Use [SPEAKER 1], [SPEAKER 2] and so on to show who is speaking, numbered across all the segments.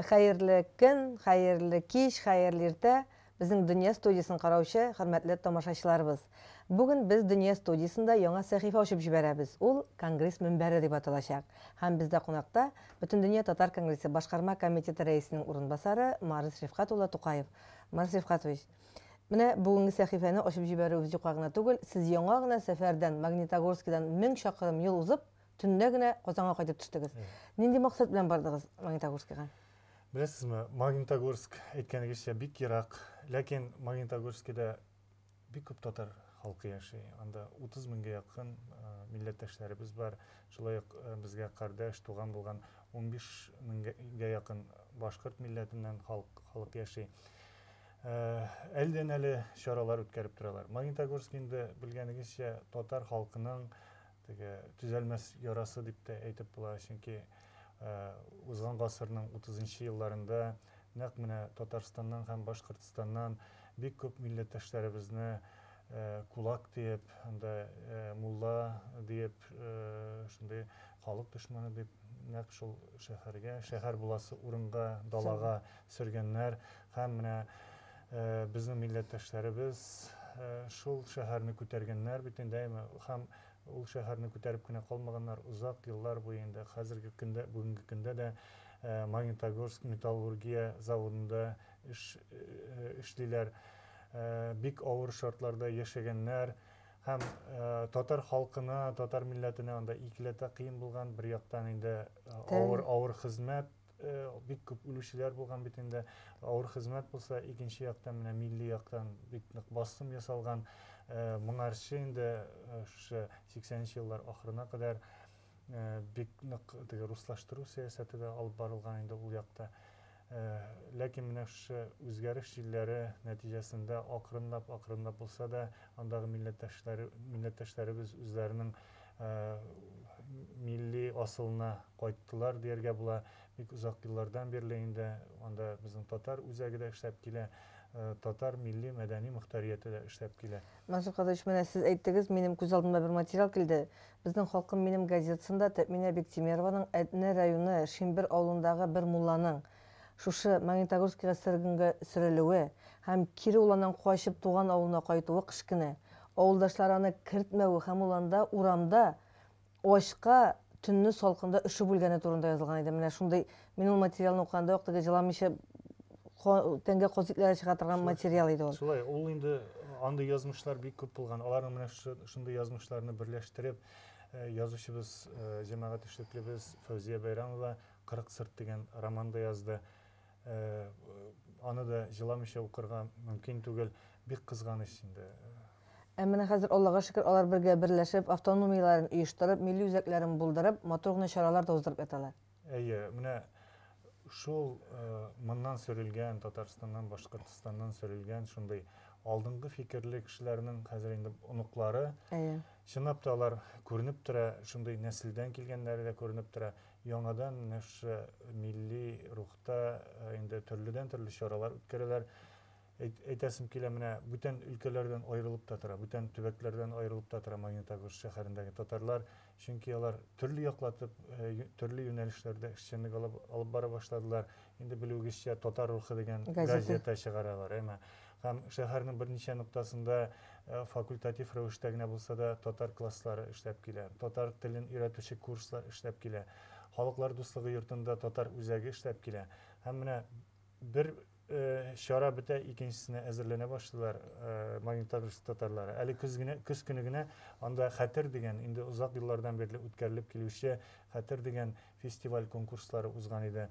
[SPEAKER 1] Хәерле көн, хәерле кич, хәерле иртә, безнең Дөнья студиясен караучы хөрмәтле тамашачыларыбыз. Бүген без Дөнья студиясендә яңа сәхифә ачып җибәрәбез. Ул Конгресс мөнбәре дип аталачак. Һәм бездә кунакта Бөтендөнья татар конгрессы башкарма комитеты рәисенең урынбасары Марс Рифкать улы Тукаев. Марс Рифкатович, менә бүгенге сәхифәне ачып җибәрүебез юкка гына түгел, сез яңа гына сәфәрдән, Магнитогорскидан мең чакрым юл узып, төнлә генә Казанга кайтып төштегез. Нинди максат белән бардыгыз Магнитогорскига? Беләсезме, Магнитогорск, әйткәнегезчә, бик ерак, ләкин Магнитогорскида Бик күп татар халкы яши. Анда 30 меңгә якын милләттәшләребез бар. Шулай ук безгә кардәш, туган булган 15 меңгә якын башкорт милләтеннән халык яши. Әледән-әле чаралар үткәреп торалар. Магнитогорск инде, белгәнегезчә, татар халкының Теге төзәлмәс ярасы дип тә әйтеп була, чөнки узган гасырның утызынчы елларында нәкъ менә Татарстаннан һәм Башкортстаннан бик күп милләттәшләребезне кулак диеп, анда мулла диеп, шундый халык дошманы дип нәкъ шул шәһәргә, шәһәр буласы урынга, далага, Сөргәннәр һәм менә безнең милләттәшләребез шул шәһәрне күтәргәннәр бит инде, әйме? Һәм ул шәһәрне күтәреп кенә калмаганнар, озак еллар буе инде, хәзерге көндә, бүгенге көндә дә Магнитогорск металлургия заводында эш эшлиләр. Бик авыр шартларда яшәгәннәр һәм татар халкына, татар милләтенә анда икеләтә кыен булган, бер яктан инде авыр, авыр хезмәт, Бик күп үлүчеләр булган бит инде. Авыр хезмәт булса, икенче яктан менә милли яктан бик нык басым ясалган. Моңарчы инде шушы 80 нче еллар ахырына кадәр бик нык теге руслаштыру сәясәте дә алып барылган инде ул якта. Ләкин менә шушы үзгәреш җилләре нәтиҗәсендә акрынлап, акрынлап булса да, андагы милләттәшләре, милләттәшләребез үзләренең милли асылына кайттылар дияргә була. Бик озак еллардан бирле инде анда безнең татар үзәге дә эшләп килә, татар милли мәдәни мөхтәрияте дә эшләп килә. Мансур Казович, менә сез әйттегез, минем күз алдыма бер материал килде. Безнең Халкым минем газетасында Тәэминә Биктимерованың Әтнә районы Шимбер авылындагы бер мулланың, Шушы Магнитогорскига сөргенгә сөрелүе һәм кире ул аның качып туган авылына кайтуы кечкенә авылдашлары аны кертмәве һәм ул анда урамда ачка төнне салкында өшеп үлгәне турында язылган иде. Менә шундый мин ул материалны укыганда ук теге җыламыйча ка тәнгә казы итләре чыга торган Шулай. материал иде ул. Шулай, ул инде андый язмышлар бик күп булган. Аларның менә шу шундый язмышларны берләштереп, язучыбыз, җәмәгать эшлеклебез Фәүзия Бәйрәмова Кырык сырт дигән роман да язды. Аны да җыламыйча укырга мөмкин түгел. Бик кызганыч инде. Ә менә хәзер, Аллага шөкер, алар бергә берләшеп, автономияләрен оештырып, милли үзәкләрен булдырып, матур гына чаралар да уздырып яталар. Әйе, менә шул моннан сөрелгән, Татарстаннан, Башкортостаннан сөрелгән шундый алдынгы фикерле кешеләрнең хәзер инде оныклары, чынлап та алар күренеп тора, шундый нәселдән килгәннәре дә күренеп тора. Яңадан менә шушы милли рухта инде төрледән-төрле чаралар үткәрәләр. Әйтәсем килә, менә бүтән өлкәләрдән аерылып та тора, бүтән төбәкләрдән аерылып та тора Магнитогорск шәһәрендәге татарлар, чөнки алар төрле яклатып, төрле юнәлешләрдә эшчәнлек алып бара башладылар. Инде белүегезчә, Татар рухы дигән газета чыгаралар, әйме? Һәм шәһәрнең берничә ноктасында факультатив рәвештә генә булса да татар класслары эшләп килә. Татар телен өйрәтүче курслар эшләп килә. Халыклар дуслыгы йортында татар үзәге эшләп килә. Һәм менә бер чара бетә, икенчесенә әзерләнә башлыйлар Магнитогорск татарлары. Әле көз генә, көз көне генә анда Хәтер дигән, инде озак еллардан бирле үткәрелеп килүче Хәтер дигән фестиваль-конкурслары узган иде.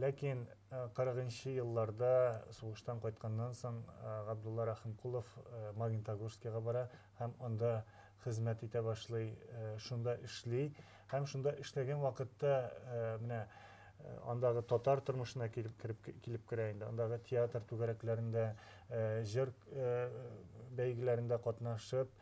[SPEAKER 1] Ләкин кырыгынчы елларда, сугыштан кайтканнан соң, Габдулла Рәхимкулов Магнитогорскига бара һәм анда хезмәт итә башлый, шунда эшли. Һәм шунда эшләгән вакытта менә андагы татар тормышына килеп керә инде. Андагы театр түгәрәкләрендә, җыр бәйгеләрендә катнашып,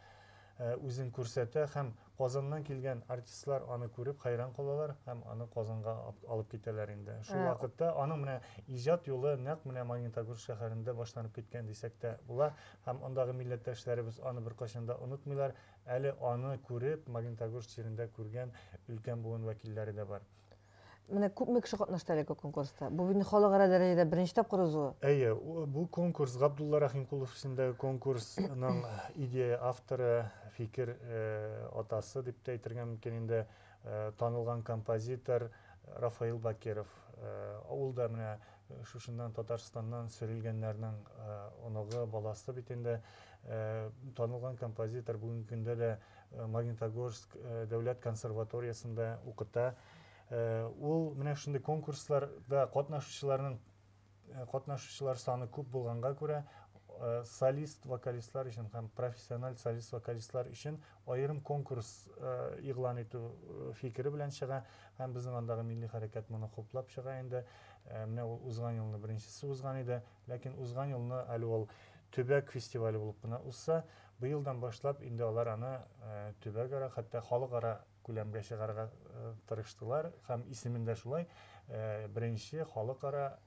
[SPEAKER 1] үзен күрсәтә һәм Казаннан килгән артистлар аны күреп хәйран калалар һәм аны Казанга алып китәләр инде. Шул вакытта аның менә иҗат юлы нәкъ менә Магнитогорск шәһәрендә башланып киткән дисәк тә була һәм андагы милләттәшләребез аны беркайчан да онытмыйлар, әле аны күреп, Магнитогорск җирендә күргән өлкән буын вәкилләре дә бар. Менә күпме кеше катнашты әлеге конкурста? Бу бит халыкара дәрәҗәдә беренче тапкыр узуы. Әйе, бу конкурс Габдулла Рәхимкулов исемендәге конкурсның идея авторы, фикер э, атасы дип тә әйтергә мөмкин инде, э, танылган композитор Рафаил Бакиров. Э, ул да менә Шушыннан Татарстаннан сөрелгәннәрнең оныгы, баласы бит инде. Танылган композитор бүгенге көндә дә Магнитогорск дәүләт консерваториясендә укыта. Ул менә шундый конкурсларда катнашучыларның катнашучылар саны күп булганга күрә, солист-вокалистлар өчен һәм профессиональ солист-вокалистлар өчен аерым конкурс игълан итү фикере белән чыга һәм безнең андагы милли хәрәкәт моны хуплап чыга инде. Менә ул узган елны беренчесе узган иде, ләкин узган елны әле ул төбәк фестивале булып кына узса, быелдан башлап инде алар аны төбәкара, хәтта халыкара күләмгә чыгарга тырыштылар һәм исемен дә шулай беренче халыкара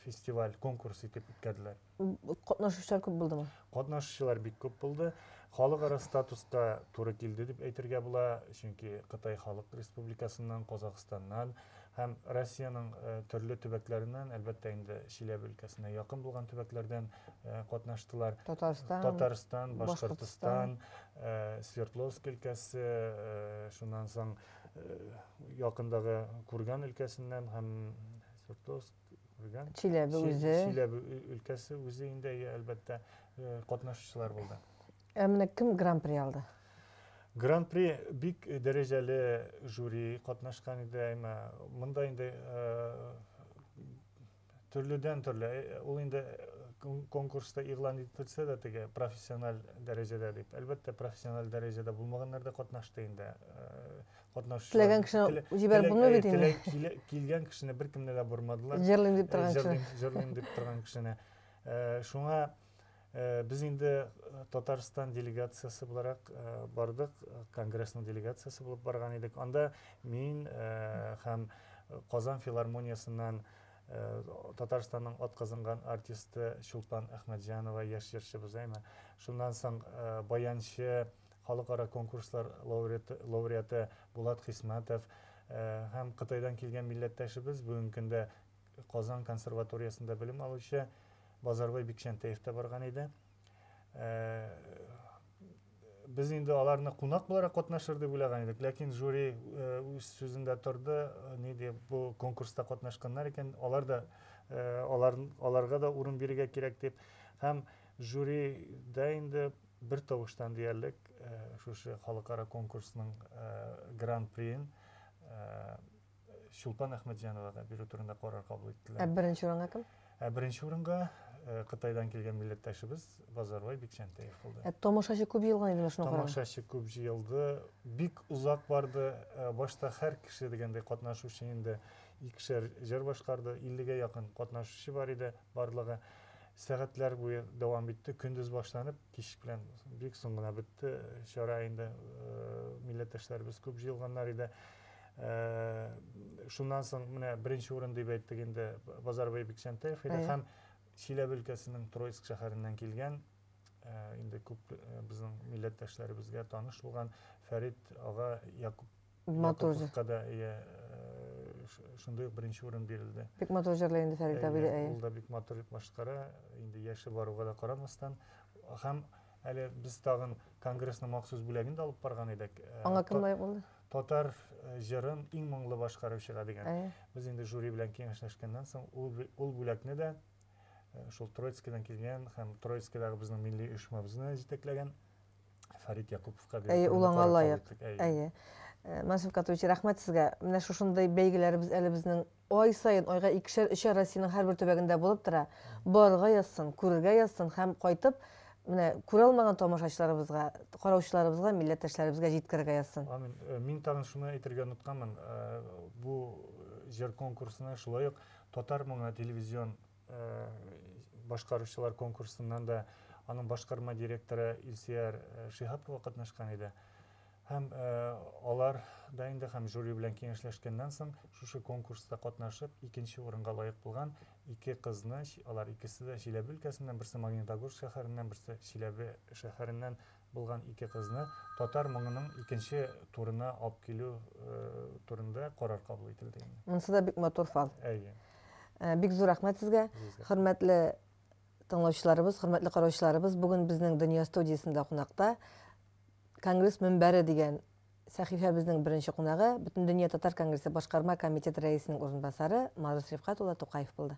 [SPEAKER 1] фестиваль, конкурс итеп үткәрделәр. Катнашучылар күп булдымы? Катнашучылар бик күп булды. Халыкара статуска туры килде дип әйтергә була, чөнки Кытай Халык Республикасыннан, Казахстаннан һәм Россиянең э, төрле төбәкләреннән, әлбәттә инде Чиләбе өлкәсенә якын булган төбәкләрдән э, катнаштылар. Татарстан, Татарстан, Башкортстан, э, Свердловск өлкәсе, шуннан соң якындагы Курган өлкәсеннән һәм Свердловск Күргән. Чиләбе үзе. Чиләбе өлкәсе үзе инде, әлбәттә, катнашучылар булды. Ә менә кем гран-при алды? Гран-при бик дәрәҗәле жюри катнашкан иде, әмма монда инде төрледән төрле. Ул инде конкурста игълан ителсә дә теге профессиональ дәрәҗәдә дип. Әлбәттә, профессиональ дәрәҗәдә булмаганнар да катнашты инде. катнашучылар теләгән кешене җибәреп булмый бит инде килгән кешене беркемне дә бормадылар җырлыйм дип торган кешене җырлыйм дип торган кешене шуңа без инде татарстан делегациясе буларак бардык конгрессның делегациясе булып барган идек анда мин һәм казан филармониясеннән татарстанның атказанган артисты чулпан әхмәтҗанова яшь җырчыбыз әйме шуннан соң баянчы халыкара конкурслар лауреты лауреаты Булат Хисмәтов һәм Кытайдан килгән милләттәшебез, бүгенге көндә Казан консерваториясендә белем алучы Базарбай Бикчәнтәев тә барган иде. Без инде аларны кунак буларак катнашыр дип уйлаган идек, ләкин жюри үз сүзендә торды, ни дип, бу конкурста катнашканнар икән, алар да алар аларга да урын бирергә кирәк дип. Һәм жюрида инде бер тавыштан диярлек шушы халыкара конкурсның гран-приен Чулпан Әхмәтҗановага бирү турында карар кабул иттеләр. Ә беренче урынга кем? Ә беренче урынга Кытайдан килгән милләттәшебез Базарбай Бикчәнтәев булды. Ә тамашачы күп җыелган иде шуңа караганда. Тамашачы күп җыелды, бик озак барды. Башта һәр кеше дигәндәй катнашучы инде икешәр җыр башкарды, 50 гә якын катнашучы бар иде барлыгы. Сәгатьләр буе дәвам итте. Көндез башланып, кич белән бик соң гына бетте чара инде. Милләттәшләребез күп җыелганнар иде. Шуннан соң менә беренче урын дип әйттек инде Базарбай Бикчәнтәев иде һәм Чиләбе өлкәсенең Троицк шәһәреннән килгән, инде күп безнең милләттәшләребезгә таныш булган Фәрит ага Якуп. матур җыр да иә шундый ук беренче урын бирелде бик матур җырлый инде фәрит абый да ул да бик матур итеп башкара инде яше баруга да карамастан һәм әле без тагын конгрессның махсус бүләген дә алып барган идек аңа кем лаек булды татар җырын иң моңлы башкаручыга дигән без инде жюри белән киңәшләшкәннән соң ул бүләкне дә шул троицкидан килгән һәм троицкидагы безнең милли оешмабызны җитәкләгән Фәрит Якуповка бирдек. Әйе, ул аңа лаек. Әйе. Э, Мансур Катович, рәхмәт сезгә. Менә шушындый бәйгеләребез әле безнең ай сайын, айга икешәр, өчәр Россиянең һәрбер төбәгендә булып тора. Барырга язсын, күрергә язсын һәм кайтып, менә күрә алмаган тамашачыларыбызга, караучыларыбызга, милләттәшләребезгә җиткерергә язсын. Амин. Э, мин тагын шуны әйтергә онытканмын. Э, бу җыр конкурсына шулай ук татар моңы телевизион башкаручылар конкурсыннан да аның башкарма директоры Илсияр Шиһапова катнашкан иде. Һәм алар да инде һәм жюри белән киңәшләшкәннән соң шушы конкурста катнашып, икенче урынга лаек булган ике кызны, алар икесе дә Чиләбе өлкәсеннән, берсе Магнитогорск шәһәреннән, берсе Чиләбе шәһәреннән булган ике кызны татар моңының икенче турына алып килү турында карар кабул ителде инде. Монысы да бик матур фал. Әйе. Э, бик зур рәхмәт сезгә. Хөрмәтле тыңлаучыларыбыз, хөрмәтле караучыларыбыз, бүген безнең Дөнья студиясендә кунакта Конгресс мөнбәре дигән сәхифәбезнең беренче кунагы Бөтендөнья татар конгрессы башкарма комитет рәисенең урынбасары Марус Рифкат улы Тукаев булды.